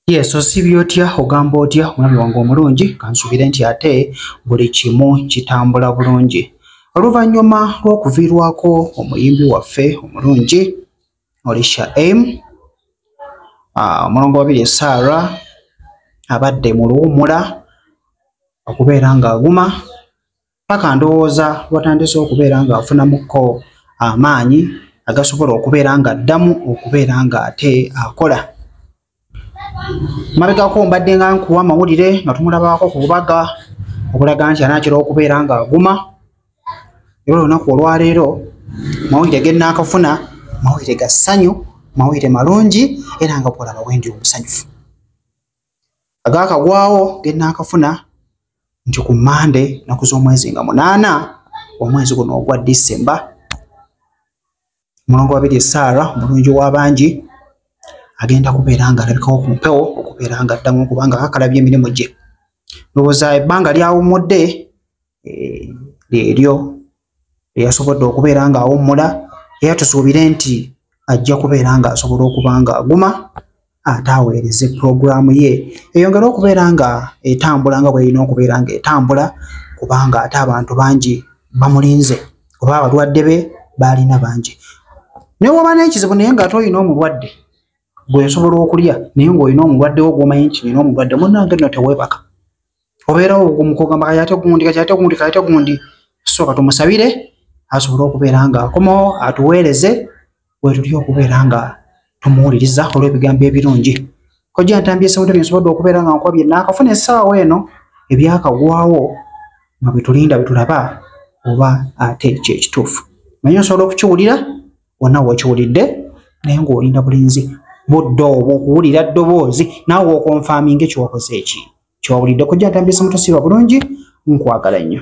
Yes, osibye otya ogamba otya omwami wange omulungi kansubire nti ate buli kimu kitambula bulungi oluvannyuma lw'okuviirwako omuyimbi waffe omulungi olisha m ah, omulongo wabiri esaara abadde mu luwumula okubeera ng'aguma paka ndowooza watandise okubeera nga afunamukko amaanyi agasobola okubeera nga addamu okubeera nga ate akola mabegako mbadde nga nkuwa amawulire nga tumulabaako ku bubaga okulaga nti anaakira okubeera nga aguma era olunaku olwaleero mawulire genaakafuna mawulire ga ssanyu mawulire malungi era nga kuolaba wendi omusanyufu agaakagwawo gennaakafuna nti ku mande naku z'omwezi nga munaana omwezi guno ogwa disemba omulongo wabiri esaara omulungi w'abangi agenda kubeera nga alabikawo ku mpewo okubeera nga addamu okubanga akakalabya emirimu gye ndowooza ebbanga lyawummudde eh, lyeryo eyasobodde okubeera ng'awummula era tusuubire nti ajja kubeera ng'asobola okuba ng'aguma ate aweereze pulogulaamu ye eyongere okubeera nga etambula nga bwerina okubeera ng'etambula kubanga ate abantu bangi bamulinze oba abalwadde be baalina bangi ne woba n'ekizibu naye ng'ate olina omulwadde gwesobola okulya naye ng'olina omulwadde wo gwomanyi nti nina omulwadde munange no tewebaka obeerawo ogumu kugamba kati ate gundi kati ate gundi kati ate gundi sooka tumusabire asobole okubeera nga akomawo atuweereze wetuli okubeera nga tumuwuliriza olw'ebigambo ebirungi kojja ntambye sewude byensobodde okubeera nga nkwabye naakafuna essaawa eno ebyakagwawo nga bwetulinda bwetulaba oba ate kyekituufu naye osobola okukiwulira wonna wokiwulidde naye ngaolinda bulinzi budde obwo okuwulira ddoboozi naawe okonfaaminga ekyokoze eki kyowulidde kojja agambye simutusiiba bulungi nkwagala nnyo